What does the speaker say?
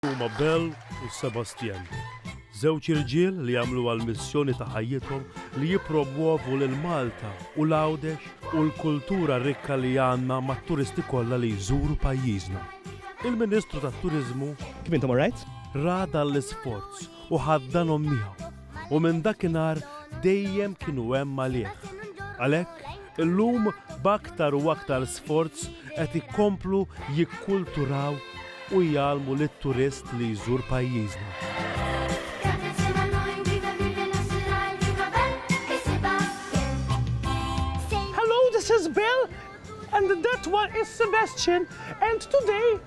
Huma Bell u Sebastien, żewġ irġiel li għamluha l-missjoni ta' ħajjithom li jippromwovu lil Malta u l-Għawdex u l-kultura rikka li għandna mat-turisti kollha li jżuru pajjiżna. Il-Ministru tat-Turiżmu, Kif intom all right? Ra dan l-isforz u ħaddanhom miegħu. u minn dakinhar dejjem kienu hemm għalih. Għalhekk, illum b'aktar u aktar sforz qed ikomplu jikkulturaw u jgħallmu lit-turist li jżur pajjiżna. Hello, this is Bill and that one is Sebastian and today